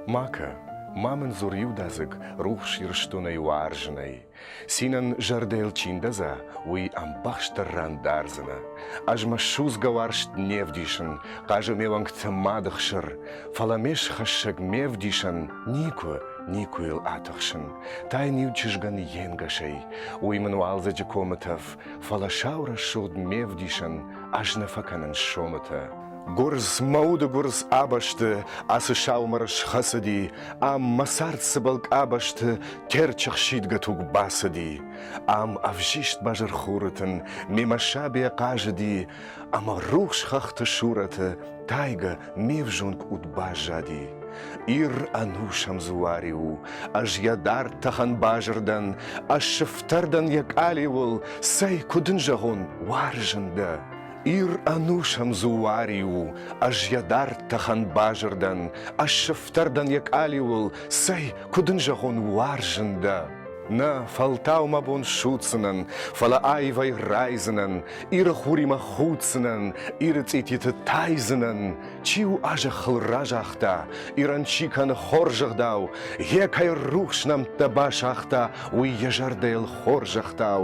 Макӕ, ма мын дзур иудадзыг рухс Ирыстонӕй уарзынӕй. Цинӕн зӕрдӕйыл чи ндӕдза, уый ӕмбӕхстӕр ран дардзынӕ. Ӕз мӕ судзгӕ уарзт не вдисын, хъазы ме уӕнгты мады хсыр, фӕлӕ ме схӕссӕг ме вдисӕн Никуы, никуы йыл атыхсын. Тайн-иу чызгӕн йе нгӕсӕй. Уый мын уалдзӕджы комытӕф, фӕлӕ сау рӕсугъд ме вдисӕн ӕз нӕ фӕкӕнын сомытӕ. Гуырдз, мӕ уды гуырдз абӕсты ацы саумӕр схӕцыди, ам мӕ цард цыбыл къабӕзты Терчы хсидгӕ туг бацыди. Ам ӕвзист базыр хуры тын мемӕ сабе хъазыди, ӕма рухс хӕхты сурӕтӕ тайгӕ ме взонг уд баззади. Ир ӕнусӕм дзуари у, ӕз йӕ дард тӕхӕн базырдӕн, ӕз сыфтӕрдӕн йӕ къалиуыл, цӕй, куыд ын зӕгъон, уарзын дӕ. Ир ӕнусӕм дзуари у, ӕз йӕ дард тӕхӕн базырдӕн, ӕз сыфтӕрдӕн йӕ къалиуыл, цӕй, куыд ын зӕгъон, уарзын дӕ. Нӕ фӕлтау мӕ бон ссудздзынӕн, фӕлӕ аивӕй райдзынӕн, Иры хуримӕ худдзынӕн, Иры цъититы тайдзынӕн. Чи у азӕххыл разагъта, Ирӕн чи кӕны хорзӕгъдау, Гъе кӕй рухс нӕмттӕ басагъта, Уый йӕ зӕрдӕйыл хорзӕхтау.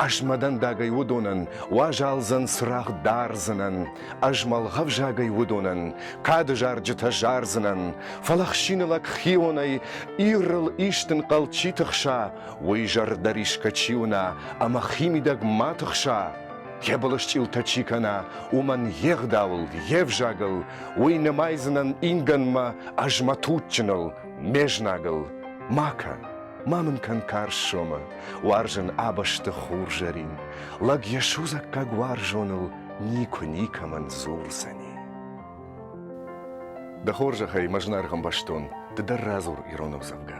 Ӕз мӕ дӕндагӕй уыдонӕн, Уазалдзӕн цырагъ дардзынӕн. Ӕз мӕлгъӕвзагӕй уыдонӕн Кады зарджытӕ зардзынӕн, Фӕлӕ хсины лӕг хионӕй Ирыл истын хъӕлд чи тыхса, Уый зӕрдӕрисгӕ чи уына Ӕмӕ химидӕг ма тыхса, Йӕ былысчъилтӕ чи кӕна, Уымӕн йе гъдауыл, йе взагыл, Уый нымайдзынӕн ингӕнмӕ Ӕз мӕ туджджыныл, ме знагыл. Ма кӕн, ма мын кӕн карз сомы, Уарзын абӕсты хурзӕрин. Лӕг йӕ судзаггаг уарзоныл никуы никӕмӕн дзурдзӕни. Дӕ хорзӕхӕй, мӕ зынаргъ ӕмбӕстон, ды дӕр радзур ирон ӕвзӕгмӕ.